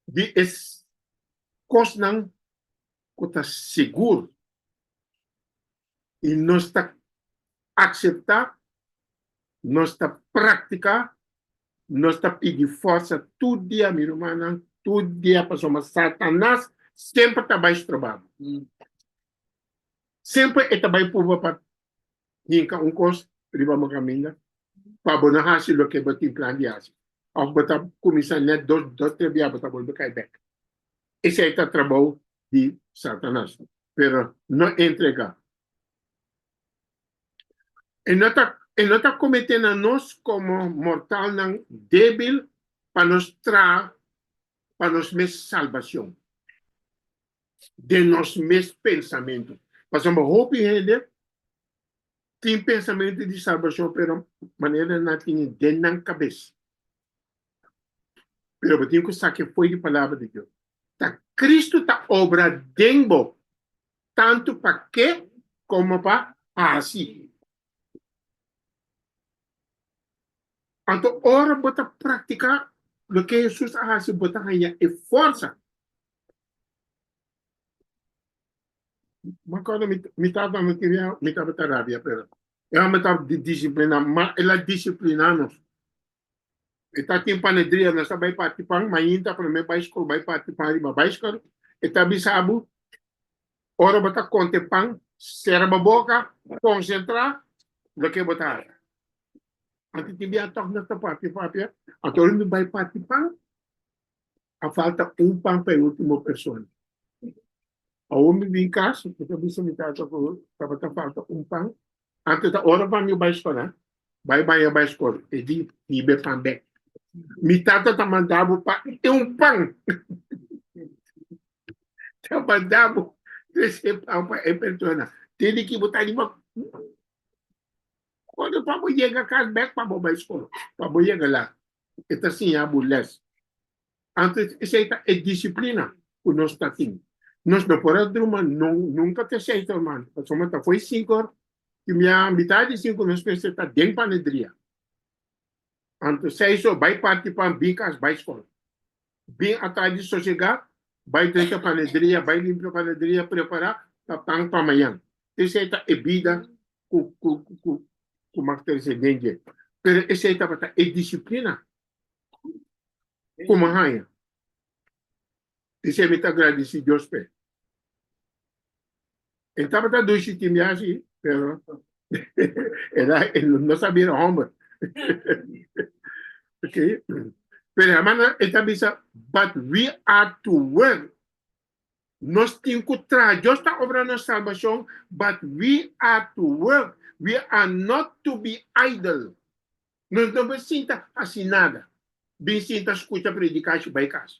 di e kosnan ku ta sigur. i nos ta akseptá, nos ta praktiká, nos ta pidi fòrsa tur dia, mi rumannan, tur dia pasobra Satanas semper ta bai stroba bo. Semper e ta bai purba pa hinka un kos riba bo kaminda pa bo no hasi loke bo tin plan di hasi òf bo ta kuminsá nèt dos, tres biaha bo ta bolbe kai bèk. Esei ta trabou di Satanas. pero no entrega. E no ta e no ta comete na nos como mortalnan debil pa nos traha pa nos mes salbacion den nos mes pensamento. Pasobra hopi hende tin pensamento di salbacion pero manera nan tin den nan cabes. pero bo tin ku sa ke fo'i di palabra di Dios. Ta Kristu ta obra den bo, tantu pa ke komo pa hasi. Anto ora bo ta praktiká loke Hesus a hasi bo ta haña e forsa. Bo kòrda mi tata no tin mi tabata rabia pero e hòmber tabata disipliná, ma el a disipliná nos. E ta tin panaderia, nos ta bai parti pan, mainta prome bai skol bai parti pan riba baiskor, e ta bisa bo, ora bo ta konte pan, sera bo boka, konsentra, loke bo ta haya. Anto tin biaha tog nos ta papia papia, anto ora mi bai parti pan, a falta un pan pa e ultimo persona. Awor mi bin casa, mi ta bisa mi tata cu tabata falta un pan, ante ta ora pa mi bai scola, bai baña bai scola, e di hiba e pan bek. Mi tata ta manda bo pa e un pan, ta manda bo tres e pan pa e persona, te di ki bo ta riba ora pa bo yega cas bek pa bo bai scola, pa bo yega laat. e ta siña bo lès. Antes esei ta e disiplina ku nos ta tin. Nos no por a druma nunka te seis or mas, pasobra mi ta fo'i sinku or, tin bia mitar di sinku nos mester ta den panederia. Anto seis or bai parti pan, bin kas, bai skol. Bin atrás di sosegá, bai drenta panedria, bai limpia panedria, prepará pa pan pa mañan. Esei ta e bida ku ku mas trese den dje. Pero esei tabata e disiplina ku mi haña. Esei mi ta gradisí Dios p'e. E tabata dushi tin biashi, pero e na e no sabia era homber. Ok. Pero hermana e ta bisa, but we are to work. Nos tin ku traha. Dios ta obra nos salbashon, but we are to work. We are not to be idle. Nos no por sinta hasi nada. Bin sinta skucha predikashi bai kas.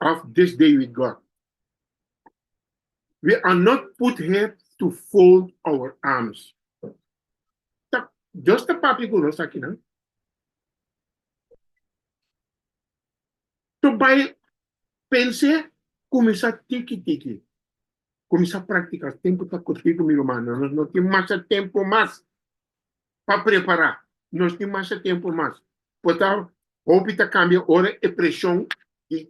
Of this day with God. We are not put here to fold our arms. Ta, Dios ta papi ku nos akinan. To bai pense kumisa tiki tiki. Kumisa praktika tempu ta kurtiku mi rumannan. Nos no tin masha tempu mas pa prepará. Nos tin masha tempu mas. Por ta hopi ta kambia ora e preshon di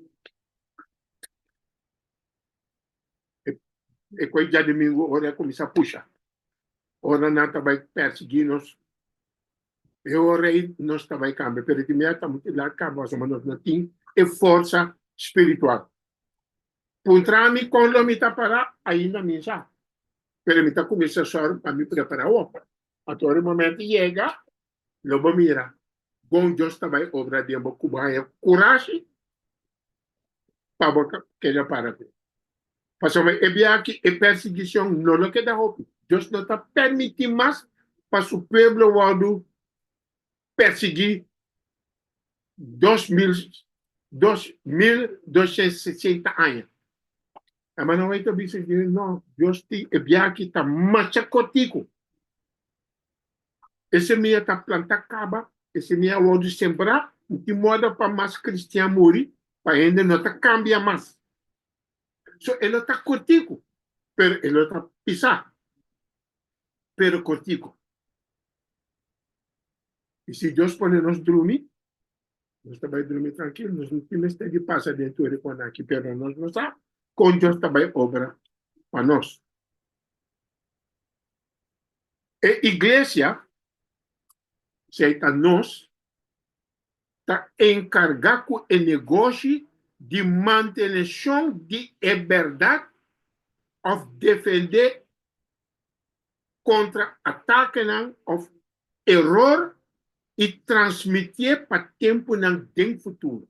e kua djadumingu ora a kuminsá pusha, ora nan ta bai pèrsiguí nos. E ora ei nos ta bai kambia, pero diminuto amo tin laga kaba, pasobra nos no tin e forsa spiritual. Puntra mi kon lo mi ta para, ainda mi sa, pero mi ta kuminsá sòru pa mi prepara hopi. Anto e momento yega, lo bo mira kon Dios ta bai obra den bo ku bo haña kurashi pa bo keda para fe. Pasobra e biaha e persigishon no lo keda hopi. Dios no ta permití mas pa su pueblo wòrdu persiguí dos mil dos mil doshens sesenta aña. Hermano White a bisa di mi, No, Dios tin e biaha aki ta masha corticu. E semilla ta plantá caba, e semilla a wordu sembrá, no tin moda pa mas cristian muri, pa hende no ta cambia mas. So, e lo ta corticu, pero e lo ta pisá. pero cortico. Y si Dios pone nos drumi, nos ta bay drumi trankil, nos tin mester di pasa den tur e cona aki, pero nos no sa con Dios ta bay obra pa nos. E iglesia, si ei ta nos, ta encarga cu e negoshi di mantenecion di e berdad of defende contra atakenan of eror y transmitié pa temponan den futuro.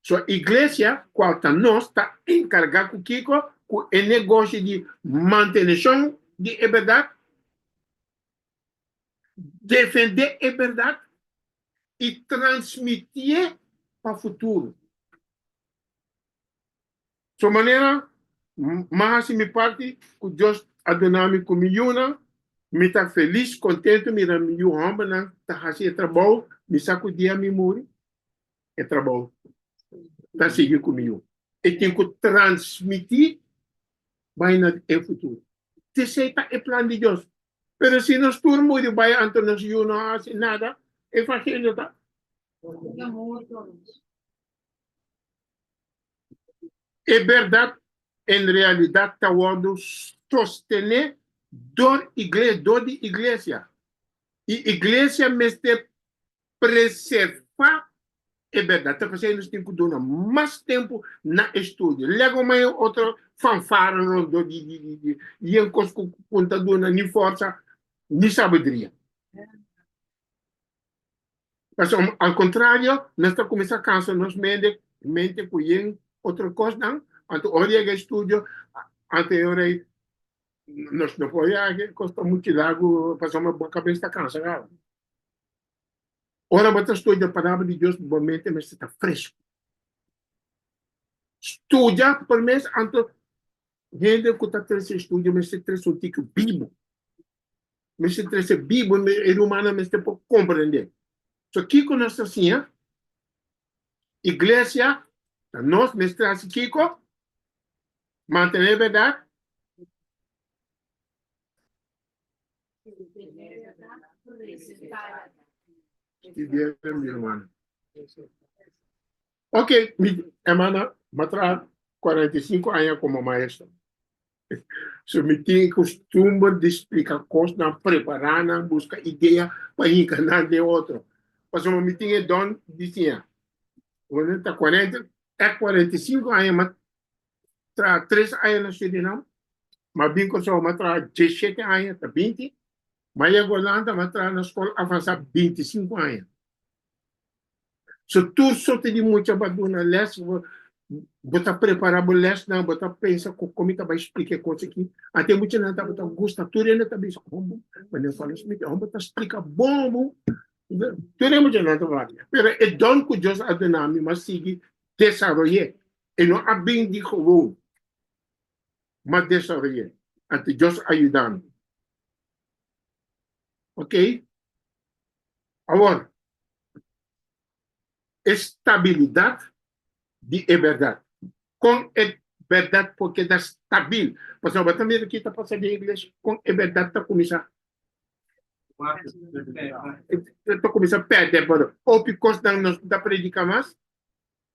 So Iglesia, cual ta nos, ta encarga cu kico? Cu e negoshi di mantenecion di e berdad. Defendé e bèrdat i transmitié pa futuro. So manera N hasi mi parti ku Dios a duna mi ku mi yunan, mi ta felis, kontentu miran mi yu hòmbernan ta hasi e trabou mi sa ku dia mi muri. e trabou ta sigui ku mió. E tin ku transmití bai na e futuro. Esei ta e plan di Dios. Pero si nos tur muri bai anto nos yu no a hasi nada, e evangelio ta. E bèrdat en realidat ta wòrdu sostené dor di iglesia. I iglesia mester Preservá e bèrdat ta pasá nos tin ku duna mas tempu na e studio. Lègò mai e otro fanfara rondó di yen kos ku kon ta duna ni forsa ni sabidria. Pasobra mi, al kontrario, nos ta kuminsá kansa nos mende mente ku yen otro kosnan, anto ora yega e studio, anto e ora ei nos no por yega, kos ta muchu lagu pasobra bo kabes ta kansa kabaw. Ora bo ta studia Palabra di Dios, bo mente mester ta fresco. Studia por mes anto hende cu ta trece estudio mester trece un tike bibo. Mester trece bibo, e rumannan mester por comprende. So, kico nos ta siña? Iglesia ta nos mester haci kico? Mantene berdad. Ok, mi hermana, ma traha 45 aña como maestro. So mi tin costumbre di splica cosnan, prepara nan, busca idea pa hinca nan den otro. Pasobra so mi tin e don di siña. Cuando ta 40, e 45 aña ma traha tres aña na Surinam, m'a bin Kòrsou m'a traha diesshete aña ta binti, m'a yega Olanda m'a traha na skòl avansá binti sinku aña. So tur sorti di mucha bo a duna lès, bo ta prepará bo lèsnan, bo ta pensa ku kon mi ta bai splika e kos aki. Anto e muchanan tabata gusta, tur e nan ta bisa, Hombu, manera Falo Smith, hombu ta splika bon, hombu. Tur e muchanan ta papia. Pero e dòn ku Dios a duna mi m'a sigui desaroy'é. E no a bin di gewoon, m'a desaroy'é, a ta djos ayudando. Ok. Awor, e stabilidat di e bèrdat. Kon e bèrdat por keda stabil? Pasobra bo ta mira ke ta pasa den e iglesia, kon e bèrdat ta kuminsá ta kuminsá pèrdè balor? Hopi kosnan nos no ta prediká mas,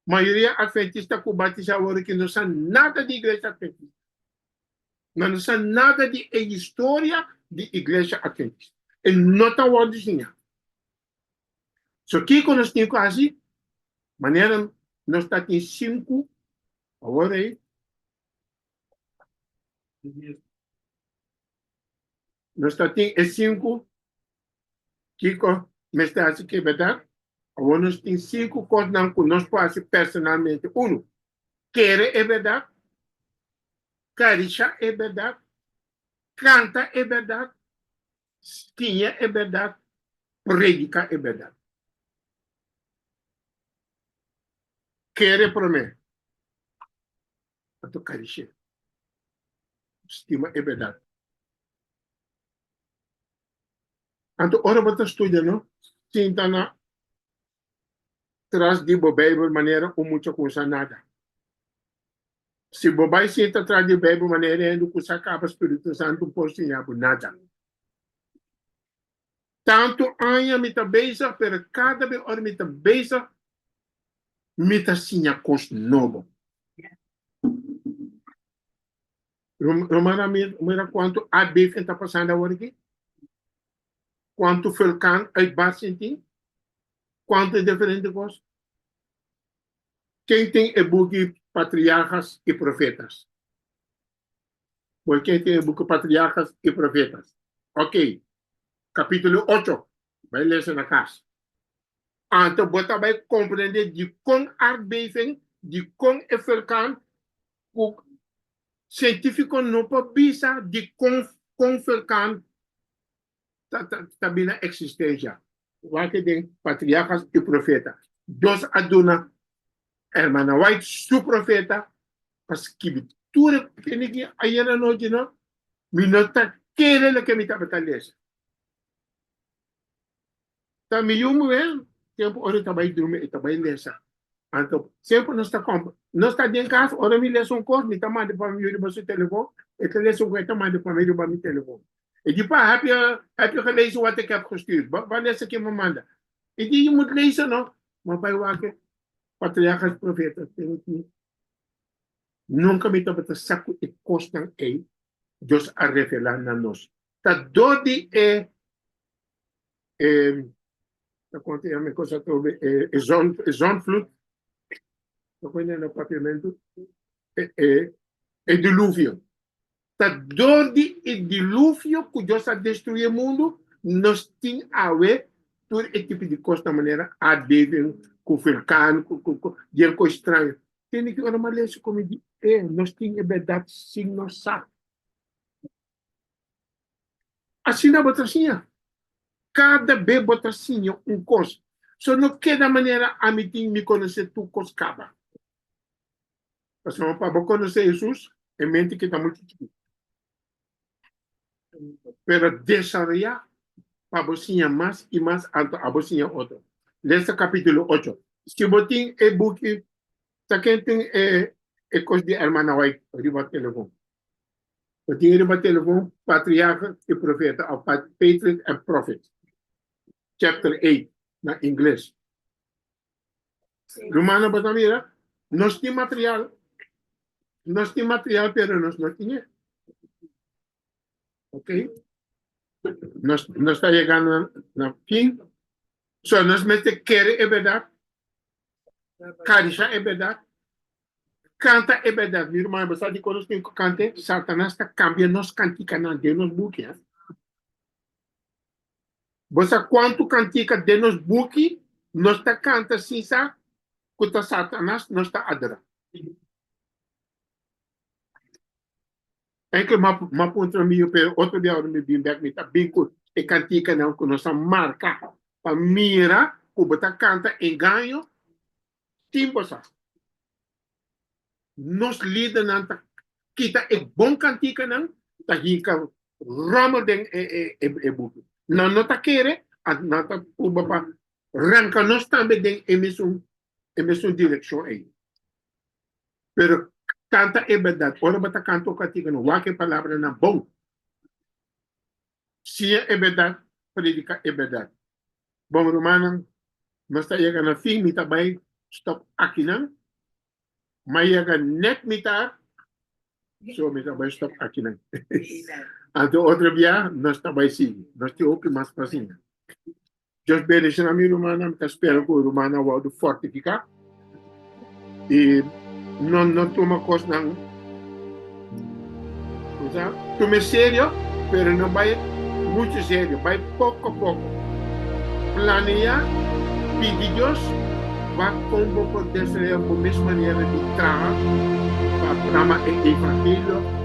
Mayoria Adventista ku batisá awor aki no sa nada di Iglesia Adventista. Nan no sa nada di e historia di Iglesia Adventista. E no ta awor disiñá. So kiko nos tin ku hasi? Manera nos ta tin sinku awor ei, nos ta tin e sinku. Kiko mester hasi ke bèrdad? Awor nos tin sinku kosnan ku nos por hasi personalmente. Unu, kere e bèrdad, karishá e bèrdad, kanta e bèrdad, stiña e bèrdad, prediká e bèrdad. Kere promé, anto karish'é, stima e bèrdad. Anto ora bo ta studia no sinta na tras di bo Beibel manera un mucha ku sa nada. Si bo bai sinta tras di Beibel manera hende ku sa kaba spiritu santu por siña bo nada. Tantu aña mi ta bezig pero kada bes ora mi ta bezig mi ta siña kos nobo. Romana, mira cuanto aardbeving ta pasando ahora aquí. Cuanto vulcán uitbarsting tin. Cuanto diferente cos. Ken tin e buki Patriarcas y Profetas? Bo ken tin e buki Patriarcas y Profetas? Oké, capítulo ocho. Bai lesa na cas. Anto bo ta bai comprende dicon aardbeving, dicon e furcan cu cientifico no por bisa dicon con furcan ta ta ta bin na existencia. Wak den Patriarcas y Profeta. Dios a duna Hermana White su profeta pa skibi tur e kende ki a yena anochi no, mi no ta kere loke mi tabata lesa. Ta mi yu muhel tempu ora e ta bai drumi e ta bai lesa anto semper nos ta compra nos ta den cas ora mi lesa un cos mi ta manda pa mi yu riba su telefon e ta lesa un cos e ta manda pa mi riba mi telefon e di pa heb yo heb yo ke lezen wat ik heb gestuurd ba ba lesa ke mi manda e di yu mut lesa no ma bai wak patriarca profeta ten tin nunca mi tabata sa cu e cosnan ey Dios a revela na nos ta dor di e zondvloed, e diluvio. Ta dor di e diluvio ku Dios a destruí e mundu, nos tin awe tur e tipo di kos na manera aardbeving ku vulkan ku den kos straño. Tende ki ora malesa komo di e nos tin e bèrdat sin nos sa. Asina bo ta siña. Kada be bo ta siña un kos, so no keda manera ami tin mi konosé tur kos kaba. Pasobra pa bo konosé Hesus, e mente kita muchu chikí. Pero desaroyá pa bo siña mas i mas altu, abo siña otro. Lesa kapítulo ocho. Si bo tin e buki, ta ken tin e kos di Hermana White riba telefon? Ta tin riba telefon Patriarca i Profeta òf Patriarch and Prophet, chapter eight, na ingles. Rumannan por ta mira, nos tin material, nos tin material pero nos no tin e. Ok? Nos nos ta yega na na fin, so nos mester kere e berdat, karisha e berdat, Canta e berdad, mi ruman, bo sa dikon nos tin cu canta e? Satanas ta cambia nos canticanan den nos buki, eh. Bo sa cuantu cantica den nos buki nos ta canta sin sa cu ta Satanas nos ta adora? Enkel ma, ma puntra mi, yo pero otro dia ora mi bin bek mi ta bin cu e canticanan cu nos a marca pa mira cu bo ta canta engaño Tin bosa, nos lidernan ta kita e bon kantikanan, ta hinka ròmel den e buki. Nan no ta kere, nan ta pruba pa ranka nos tambe den e mesun e mesun direkshon ei. Pero kanta e bèrdat. Ora bo ta kanta un kantika, no wak e palabranan bon. shia e berdad, predica e berdad. Bon rumannan, nos ta yega na fin, mi ta bay stop akinan, m'a yega net mitar, so mi ta bay stop akinan. Anto otro biaha nos ta bay sigui, nos tin hopi mas pacincia. Dios bendiciona mi rumannan. Mi ta spera cu rumannan wou do fortifica. Y no, no tuma cosnan, o sea, tome serio, pero no bay mucho serio, bay poco a poco. Planea, pidi Dios, va con bo por desarrollar bo mes manera di traha pa programa e evangelio.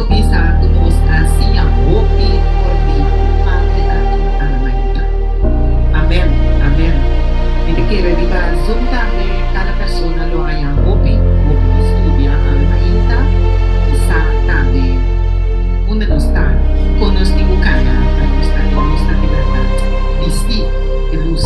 Bo bisa ku nos a siña hopi for di Patri aki Alamaita. Amen, amen. Mi ta kere riba Zoom tambe kada persona lo haña hopi, hopi di studia Alamaita i sa tambe unda nos ta, kon nos tin ku kaña pa nos ta den nos ta di bèrdat bistí di lus.